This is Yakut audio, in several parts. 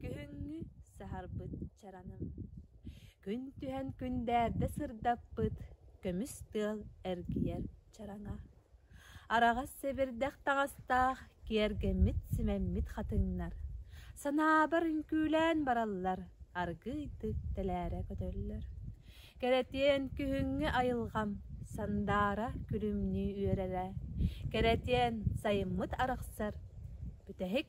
Күһүҥҥү саһарбыт чараным Күн түһэн күндээрдэ сырдаппыт Көмүс тыал эргийэр чараҥа Араҕас сэбирдэх таҥастаах Киэргэммит симэммит хатыҥнар Санаабар үҥкүүлээн бараллар Аргы ыйтык тэлээрэ көтөллөр Кэрэтиэн күһүҥҥү айылҕам Сандаара күлүмнүү үөрэрэ Кэрэтиэн сайыммыт арахсар Бүтэһик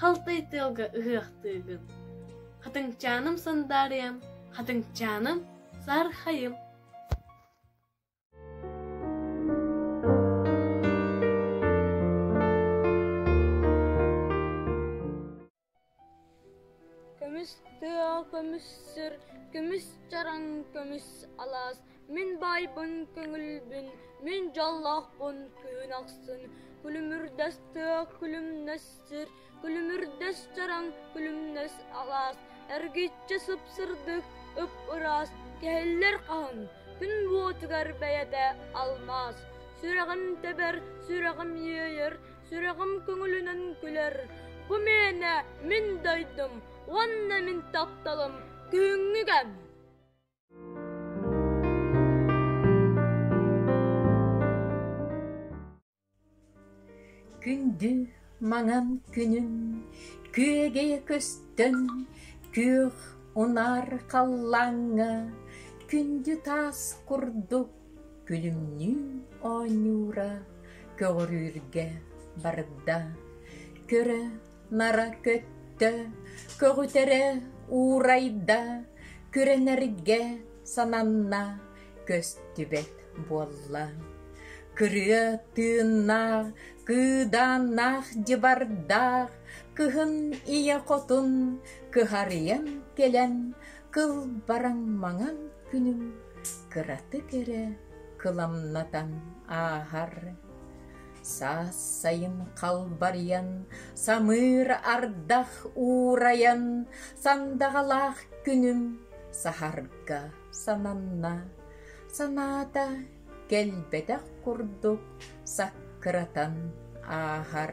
Халтай тыалга ыһыахтыыгын. Хатыҥчааным сандаарыйам, хатыҥчааным саархайым Көмүс тыа, көмүс сир, көмүс чараҥ, көмүс алаас Мин баайбын көҥүлбүн, мин дьоллоохпун күһүн ахсын, күлүмүрдэс тыа күлүмнэс сир, күлүмүрдэс чараҥ күлүмнэс алаас, эргиччи сыпсырдык ып-ыраас кэһиллэр хаһын, күн буотугар бэйэтэ алмаас, сүрэҕим тэбэр, сүрэҕим иэйэр, сүрэҕим көҥүлүнэн күлэр. Бу мээнэ мин дойдум уонна мин тапталым күһүҥҥү кэм. Күндү маҥан күнүм күөгэ көстөн күөх унар халлааҥҥа күндү таас курдук күлүмнүү оонньуура көҕөрүүргэ барда. Көрө Нара көттө, көҕүтэрэ уурайда, күрэнэргэ сананна, көстүбэт буолла. Кырыа тыыннаах, кыыдааннаах дьыбардаах, кыһын ийэ хотун кыһарыйан кэлэн, кыл бараҥ маҥан күнүм кыратык эрэ кыламнатан ааһар. Саассайын халбарыйан, самыыр ардах уурайан, сандаҕалаах күнүм саһарга сананна. Санаата кэлбэтэх курдук саккыратан ааһар.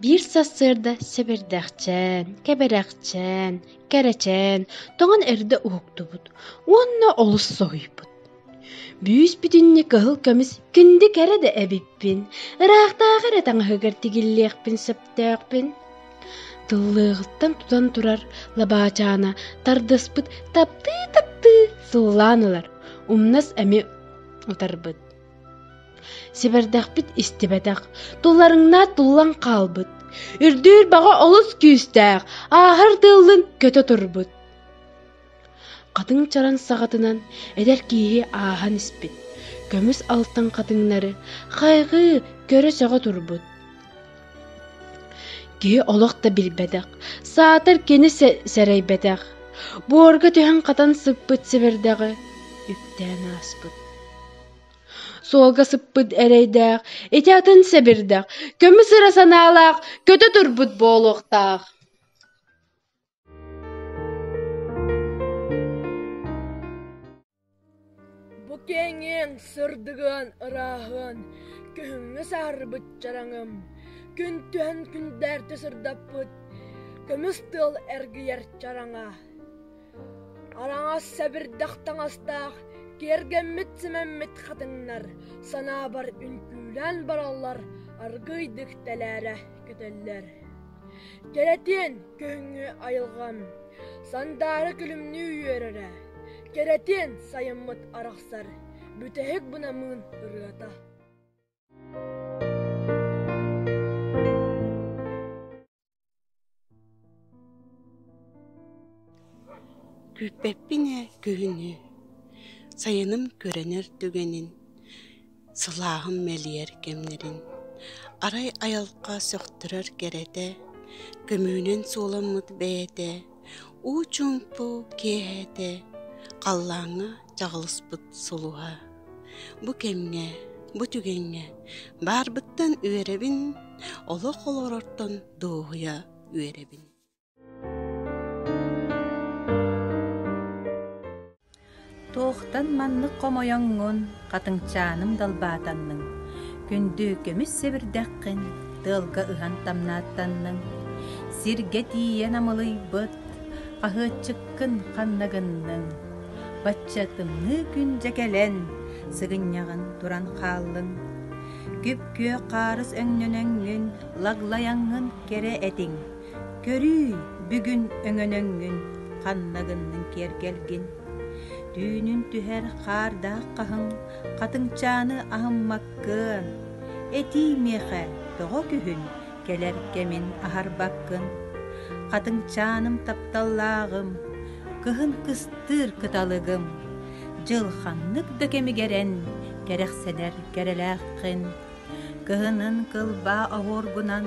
Биир сарсыарда сэбирдэхчээн, кэбирэхчээн, кэрэчээн тоҥон эрдэ уһуктубут уонна олус соһуйбут. Бүүс-бүтүннүү кыһыл көмүс күндү кэрэ да эбиппин, ыраахтааҕы эрэ таҥаһыгар тигиллиэхпин сөптөөхпүн. Тыллыаҕыттан тутан турар лабаачаана тардыспыт таптыы-таптыы сыллаан ылар, умнас эмиэ утарбыт. Сибэрдэхпит истибэтэх, тулларыҥнаат туллан хаалбыт. Үрдүүр баҕа олус күүстээх, ааһар тыыллын көтө турбут. Хатыҥ чаран саҕатынан эдэр киһи ааһан испит. Көмүс алтан хатыҥнары хайҕыы көрө-сөҕө турбут. Киһи олох да билбэтэх, саатар кини сэрэйбэтэх. Буорга түһэн хатан сыппыт сибэрдэҕи үктээн ааспыт. Суолга сыппыт эрэйдээх, ити атын сэбирдэх, көмүс ыра санаалаах, көтө турбут буолуохтаах Бу киэҥиҥ сырдыгын, ырааһын күһүҥҥү саарбыт чараҥым күн түһэн күндээрти сырдаппыт көмүс тыл эргийэр чараҥа араҥас сэбирдэх таҥастаах киэргэммит-симэммит хатыҥнар санаабар үҥкүүлээн бараллар аргыыйдык тэлээрэ көтөллөр кэрэтиэн күһүҥҥү айылҕам сандаара күлүмнүү үөрэрэ кэрэтиэн сайыммыт арахсар бүтэһик бунамыын ырыата Күүппэппин ээ күһүнү, сайыным көрүнэр түгэнин, сылааһым мэлийэр кэмнэрин, арай айылҕа сөхтөрөр кэрэтэ, көмүүнэн суоламмыт бэйэтэ уу чуумпу киэһэтэ халлааҥҥа чаҕылыспыт сулуһа бу кэмҥэ бу түгэҥҥэ баарбыттан үөрэбин олох олорортон дуоһуйа үөрэбин Туохтан маннык хомойоҥҥун, хатыҥчааным далбаатанныҥ, күндү көмүс сэбирдэххин тыалга ыһан тамнааттанныҥ, сиргэ тиийэн амылыйбыт, хаһыатчыккын ханна гынныҥ, бачча тымныы күн дьэ кэлэн, сыгынньаҕын туран хааллыҥ, күп-күөх хаарыс өҥнөнөҥҥүн, лаглайаҥҥын кэрэ этиҥ, Көрүүй, бүгүн өҥөнөҥҥүн, ханна гынныҥ киэргэлгин? Түүнүн түһэр хаардаах хаһыҥ, хатыҥчааны аһыммаккын. Этии миэхэ тоҕо күһүн, кэлэр кэмин аһарбаккын. Хатыҥчааным тапталлааҕым, кыһын кыстыыр кыталыгым. Дьыл ханнык да кэмигэрэн кэрэхсэнэр кэрэлээххин. Кыһынын кылбаа оһуоргунан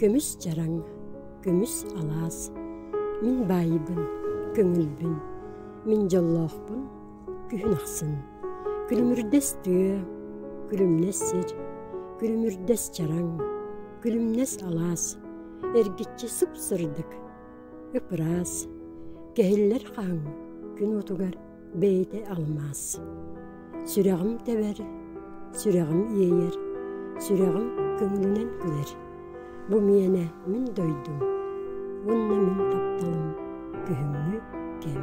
Көмүс чараҥ, көмүс алаас, мин баайбын, көҥүлбүн, мин дьоллоохпун күһүн ахсын, күлүмүрдэс тыа, күлүмнэс сир, күлүмүрдэс чараҥ, күлүмнэс алаас, эргиччи сып-сырдык, ып-ыраас, кэһиллэр хаһыҥ күн уотугар бэйэтэ алмаас. Сүрэҕим тэбэр, сүрэҕим иэйэр, сүрэҕим көҥүлүнэн күлэр. Бу миэнэ мин дойдум, уонна мин тапталым, күһүҥҥү кэм.